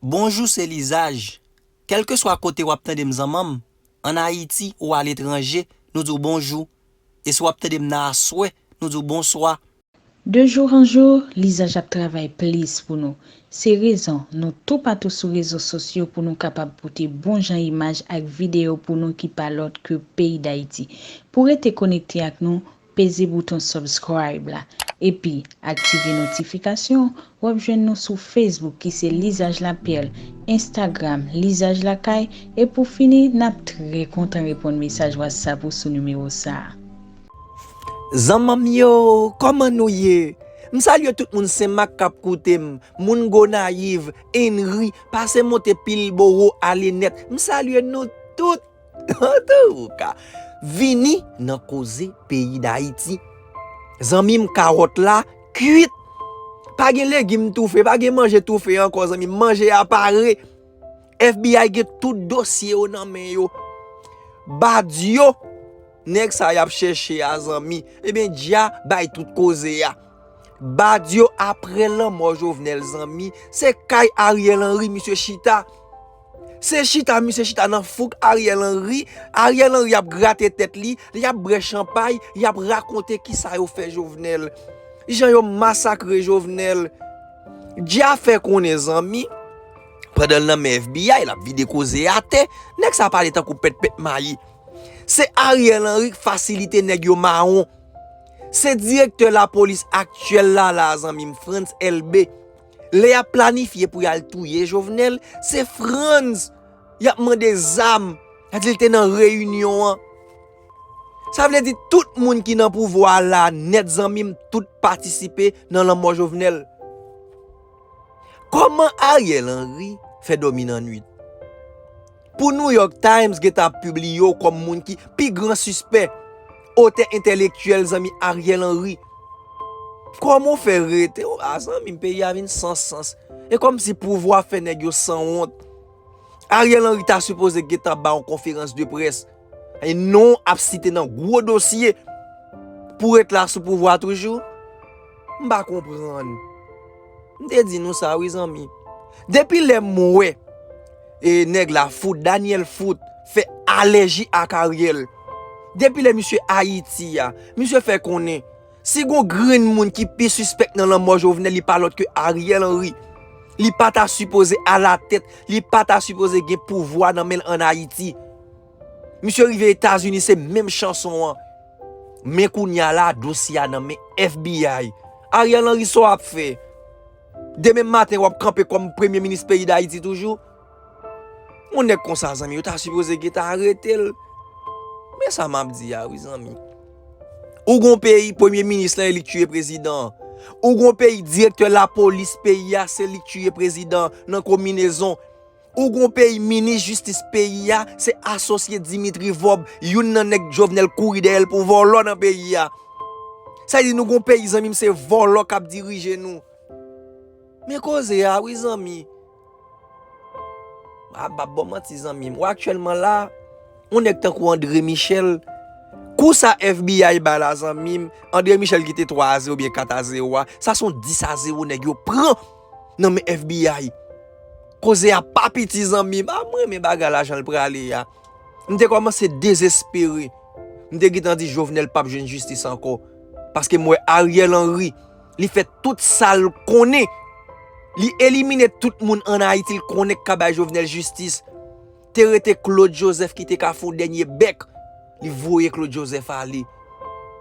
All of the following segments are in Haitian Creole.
Bonjou se lizaj, kèlkeswa kote wap tandem zanmanm, an ayiti ou aletranje nou diw bonjou, e si wap tandem nan aswè nou diw bonswa. De jour en jour lizaj ap travay plis pou nou, se rezon nou toupatou sou rezo sosyo pou nou kapab pote bon jan imaj ak video pou nou ki pa lòt ke peyi dayiti. Pou rete konekte ak nou, Peze bouton subscribe la epi aktive notifikasyon wap jwenn nou sou Facebook ki se Lizaj Lapierre, Instagram Lizaj Lakay e pou fini nap trè kontan reponn mesaj WhatsApp ou sou nimewo sa. Zanmanm yo kòman nou ye m salye tout moun senmak kap koutem moun gonayiv, enri pase monte pilbowo ale nèt m salye nou tout. Antouka, vini nan koze peyi Dayiti. Zanmi m kawòt la kuit. Pa gen legim toufe, pa gen manje toufe ankò zanmi m. Manje a pare. FBI gen tout dosye yo nan men yo. Badio, nèg sa y ap chèche a zanmi. Ebyen dja bay tout koze a. Badio apre lanmò Jovenel zanmi, se kay Ariel Henry misye chita. Se chita misye chita nan fouk Ariel Henry, Ariel Henry ap grate tèt li, li ap brè chanpay, li ap rakonte ki sa yo fè Jovenel. Jan yo masakre Jovenel. Dya fè konnen zanmi, pandan l nan men FBI, l ap vide koze a atè, nèg sa pale tankou pèt pèt mayi. Se Ariel Henry k fasilite nèg yo mawon. Se direktè lapolis aktyèl la la a zanmi m, Frantz Elbé. Lè yap planifye pou yal touye jovenel se Frantz yap mande zam sa dil te nan reyinyon an sa vle di tout moun ki nan pouvwa la nèt zanmim tout patisipe nan lanmò jovenel kòman Ariel Henry fè dòmi nan nwit. Pou New York Times gentan ap pibliye w kòm moun ki pi gran sispè, otè entèlektyèl zanmi Ariel Henry. Kòman w fè rete w la zanmi m peyi a vin san sans. E kòm si pouvwa fè nèg yo san wont. Ariel Henry ta sipoze gentan ba yon konferans de près. E non w ap site nan gwo dosye. Pou ret la sou pouvwa toujou? M pa konprann. M te di nou sa wi zanmi. Depi lè m wè e nèg la fout, Daniel fout, fè alèji ak Ariel. Depi lè misye Ayiti a, misye fè konnen, si gon grenn moun ki pi sispèk nan lanmò Jovenel li pa lòt ke Ariel Henry. Li pa ta sipoze alatèt, li pa ta sipoze gen pouvwa nan men l an Ayiti. Misye rive etazini se menm chanson an men kounya la dosye a nan men FBI Ariel Henry sa w ap fè demen maten w ap kanpe kòm premye minis peyi dayiti toujou yon nèg konsa zanmi yo ta sipoze gentan arete l men sa m ap di a wi zanmi ou gon peyi premye minis lan e li k tiye prezidan an ou gon peyi direktè lapolis peyi a se li k tiye prezidan an nan konminezon. Ou gon peyi minis jistis peyi a se asosye Dimitri vob youn nan nèg jovenel kouri dèyèl pou vòlò nan peyi a sa vle di nou gon peyi zanmim se vòlò kap dirije nou men koze a wi zanmi ah bab bon manti zanmim ou aktyèlman la yon nèg tankou andre michel kou sa FBI bay la zanmim andre michel ki te 3 a 0 oubyen 4 a 0 a sa son 10 a 0 nèg yo pran nan men FBI. Koze a pa piti zanmi m, a m renmen bagay la jan l prale a. M te kòmanse dezespere. M te gentan di Jovenel pap jwenn jistis ankò. Paske m wè Ariel Henry, li fè tout sa l konnen. Li elimine tout moun an Ayiti l konnen k ka bay Jovenel jistis. Te rete Claude Joseph ki te ka fon dènye bèk li voye Claude Joseph ale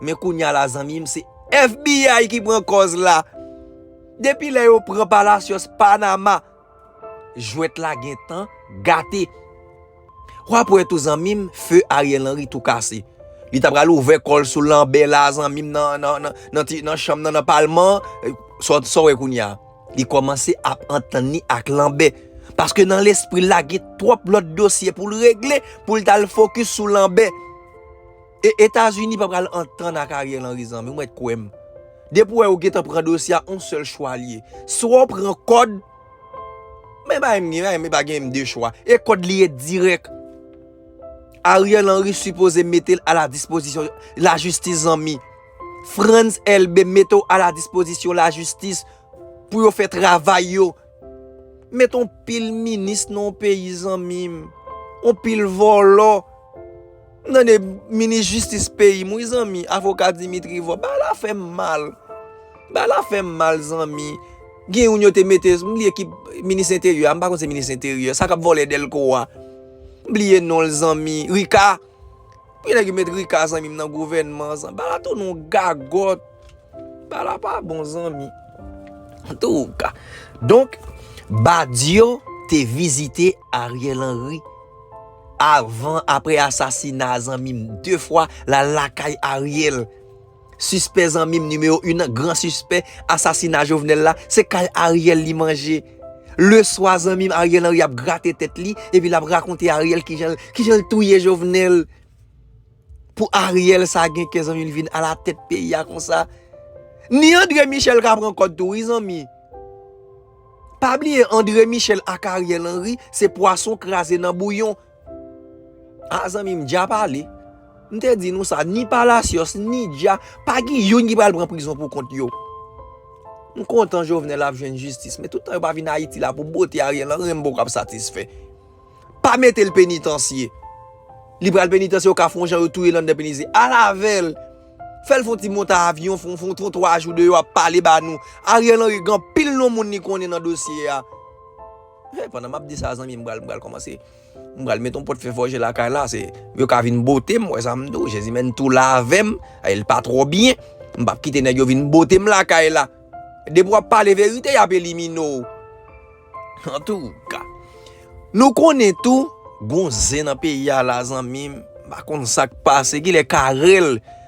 men kounya la zanmim se FBI ki pran kòz la depi lè yo pran palacios panama jwèt la gentan gate wap wè tou zanmim feu Ariel Henry tou kase li ta pral ouvè kòl sou lanbe la zanmim nan nan nan nan ti nan chanm nan nan palman sa wè kounya. Li kòmanse ap antann li ak Lanbè, paske nan lespri l la gen twòp lòt dosye pou l regle, pou l t al fokis sou Lanbè. E Etazini pa pral antann ak Ariel Henry zanmi m, ret kwè m. Depi w wè yo gentan pran dosye a, on sèl chwa li ye. Swa w pran kòd, men bagay m gen, bagay m pa gen menm 2 chwa, e kòd li ye dirèk. Ariel Henry sipoze mete l a la dispozisyon lajistis zanmi. Frantz Elbe mete w a la dispozisyon la jistis pou yo fè travay yo. Met yon pil minis nan yon peyi zanmi m. Yon pil vòlò. M tande minis jistis peyi m wi zanmi, avoka Dimitri Vorbe. Bagay la fè m mal. Bagay la fè m mal zanmi. Gen yon yo te mete, m bliye ki minis enteryè a, m pa konn se minis enteryè. Sa k ap vòlè Delko a. M bliye non l zanmi. Rika. Ki nèg ki met Rika zanmim nan gouvènman zan bala tou nou gagòt bala pa bon zanmi tou ka donk Badio te vizite Ariel Henry avan apre asasina zanmim 2 fwa lal lakay Ariel. Sispè zanmim nimewo yn nan gran sispè asasina jovenel la se kay ariel li manje le swa zanmim ariel henry ap grate tèt li epi lap rakonte ariel kijanl kijanl touye jovenel pou ariel sa gen kè zanmim li vin ala tèt peyi a konsa ni andre michel ka pran kòd tou wi zanmi pa bliye andre michel ak ariel henry se pwason kraze nan bouyon Ah zanmim dja pale. M te di nou sa ni palacios ni dja pa gen youn ki pral pran prizon pou kont yo. M kontan jovenel ap jwenn jistis men toutan yo pa vin ayiti la pou bote ariel anyen m poko ap satisfè. Pa mete l penitansye. Li pral penitansye yo ka fon jan yo touye l andan penitansye. Al avèl. Fè l fon ti monte avyon fon fon fon 3 jou 2 yo ap pale ba nou. Ariel anyen gen anpil non moun li konnen nan dosye a. Hey pandan map di sa zanmim bal bal komanse bal met yon pot fè fòje lakay la se yo ka vin botem wè sam do jezi men tou lavem el pa tro byen mbap kite nèg yo vin botem lakay la depi wap pale verite yap elimine w antouka nou konnen tou gon zen nan peyi a la zanmim pa konn sak pase kilè karel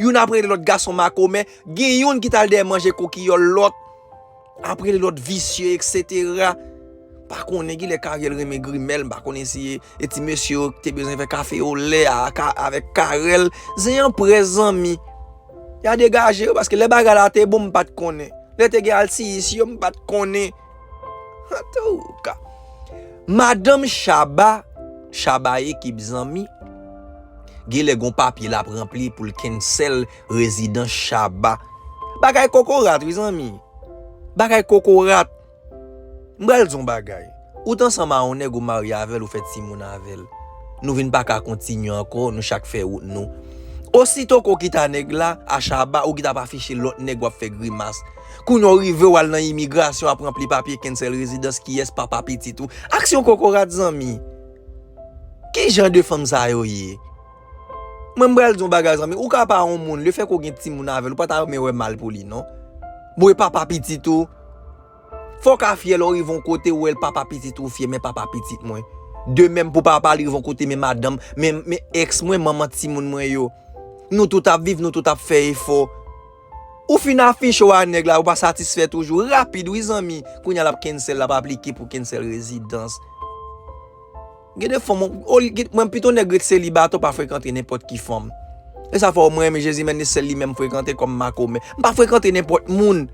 Youn ap rele lòt gason makomè, gen youn ki t al dèyè manje kokiyòl lòt, ap rele lòt visye eksetera. M pa konnen ki lè Karyèl renmen Grimèl, m pa konnen si e ti mesye yo te bezwen fè kafe olè a avèk Karèl. Zen an près zanmi. Ya degaje yo paske lè bagay la te bon m pa t konnen. Lè te gen altiyis yo m pa t konnen. Antouka, madanm Shaba, Shaba ekip zanmi, genlè gon papye lap ranpli poul cancel rezidans Shaba. Bagay kokorat wi zanmi. Bagay kokorat. M pral di w yon bagay. Ou t ansanm a yon nèg ou marye avèl ou fè timoun avèl. Nou vin paka kontinye ankò, nou chak fè wout nou. Osito ke w kita nèg la, a Shaba, ou gita ap afiche lòt nèg wap fè grimas. Kounya w rive wal nan imigrasyon ap ranpli papye cancel rezidans kiyès papa pitit ou aksyon kokorat zanmi kijan de fanm sa yo ye mwen m pral di yon bagay zanmi ou ka pa yon moun le fè ke w gen timoun avèl ou pa ta renmen wè mal pou li non bon e papa pitit ou fò w ka fyè lè w rive yon kote ou wè papa pitit ou fyè men papa pitit mwen de menm pou papa li rive yon kote men madanm men ex mwen manman timoun mwen yo nou tout ap viv nou tout ap fè efò. Ou fin afiche w a nèg la ou pa satisfè toujou rapid wi zanmi kounya lap cancel lap aplike pou cancel rezidans gen de fanm mwen pito nèg ret selibatè ou pa frekante nenpòt ki fanm e sa fè w mwen renmen jezi menn e sèl li menm m frekante kòm makomè m pa frekante nenpòt moun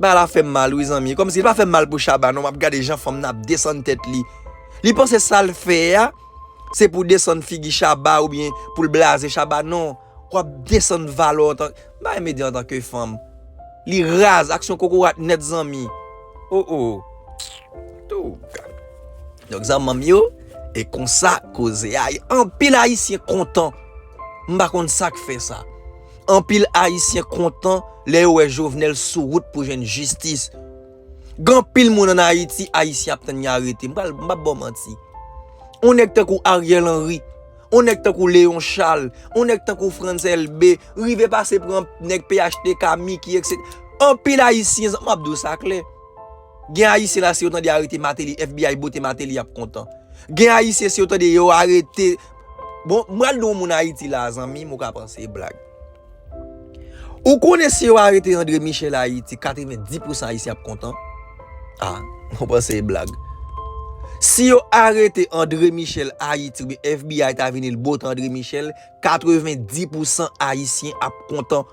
bagay la fè m mal wi zanmi kòm si li pa fè m mal pou Shabba non m ap gade jan fanm nan ap desann tèt li li panse sa l fè a se pou desann figi Shabba oubyen pou l blaze Shabba non. Wap desann valè w antan. M pa renmen di antan ke fanm. Li raz, aksyon kokorat nèt zanmi. Oh oh. Tou. Donk zanmanm yo, e konsa koze a ye. Anpil ayisyen kontan. M pa konn sak fè sa. Anpil ayisyen kontan lè yo wè Jovenel sou wout pou jwenn jistis. Gen anpil moun an Ayiti, ayisyen ap tann yo arete. M pral, m pap ba w manti. Yon nèg tankou Ariel Henry On nèg tankou Léon Charles, on nèg tankou Frantz Elbé, rive pase pran nèg phtk, Micky etc. Anpil Ayisyen, zan map di w sa klè. Gen Ayisyen la si yo tande yo arete Martelly, FBI bote Martelly yap kontan. Gen Ayisyen si yo tande yo arete, bon m pral di w yon moun Ayiti la zanmi m ou ka panse e blag. Ou konnen si yo arete Andre Michel Ayiti 90 pousan Ayisyen ap kontan? A, ou panse e blag. Si yo arete Andre Michel Ayiti oubyen FBI ta vini l bot Andre Michel 90 pousan Ayisyen ap kontan.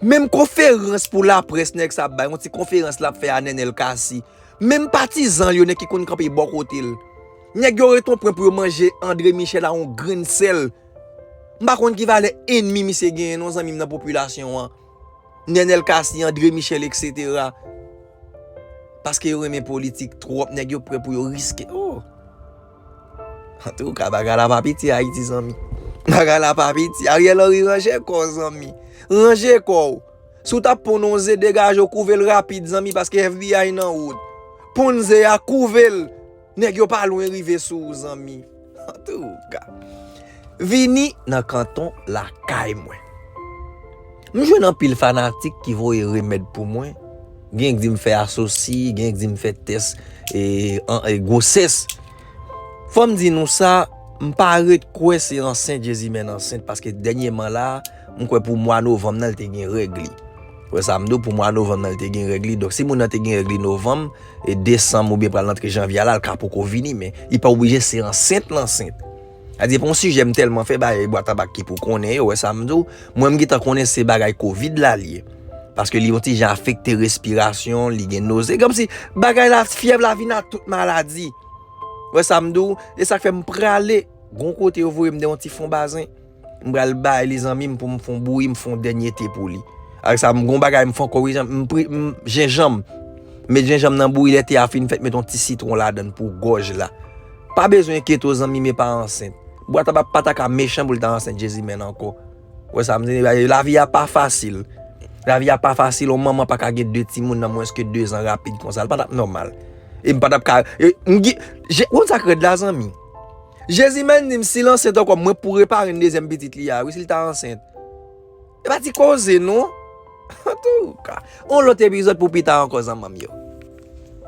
Menm konferans pou laprès nèg sa ap bay, yon ti konferans l ap fè a Nenel Cassy, menm patizan l yo, nèg ki konn kanpe bò kote l, nèg yo ret on pwen pou yo manje Andre Michel a on grenn sèl. M pa konn ki valè enmi misye genyen non zanmi m nan popilasyon an. Nenel Cassy, André Michel etc. Paske yo renmen politik twòp nèg yo prè pou yo riske oh. Antouka bagay la pa piti Ayiti zanmi. Bagay la pa piti. Ariel Henry ranje kò w zanmi. Ranje kò w. Si w tap ponn yon ze degaje w kouve l rapid zanmi paske FBI nan wout. Ponn ze a kouve l. Nèg yo pa lwen rive sou ou zanmi. Antouka. Vini nan kanton lakay mwen. M jwenn anpil fanatik ki voye remèd pou mwen. Gen k di m fè asosi, gen k di m fè tès gwosès. Fò m di nou sa, m pa ret kwè se ansent Jezimèn ansent paske dènyeman la, m kwè pou mwa novanm nan li te gen règ li. Wè sa m di w pou mwa novanm nan li te gen règ li donk si moun nan te gen règ li novanm e desanm oubyen pral antre janvye a la l ka poko vini men li pa oblije se ansent l ansent sa depan w sijè m tèlman fè bagay bwa tabak ki pou konnen yo wè sa m di w mwen m gentan konnen se bagay kovid la li ye paske li yon ti jan afekte respirasyon li gen noze kòmsi bagay la fyèv la vin ak tout maladi wè sa m di w e sa k fè m prale gon kote yo voye m nan yon ti fon bazen. M pral bay li zanmi m pou m fon bouyi m fon dènye te pou li. Ak sa m gon bagay m fon ko wi zanmi m pri m jenjanm. Met jenjanm nan bouyi lè te a fin fèt met yon ti sitwon ladann pou gòj la. Pa bezwen keto zanmi m e pa ansent. Bwa tabak pa ta ka mechan pou l ta ansent jezimèn ankò. Ou wè sa m di la? Lavi a pa fasil. Lavi a pa fasil yon manman pa ka gen 2 timoun nan mwens ke 2 zan rapid konsa l pa t ap nòmal. E m pa t ap ka e m gen je ou konn sa k rèd la zanmi? Jezi menn dim sil ansent ankò mwen pou reparen dezyèm pitit li a wi sil ta ansent e pa ti koze non antouka yon lòt epizòd pou pita ankò zanmanm yo.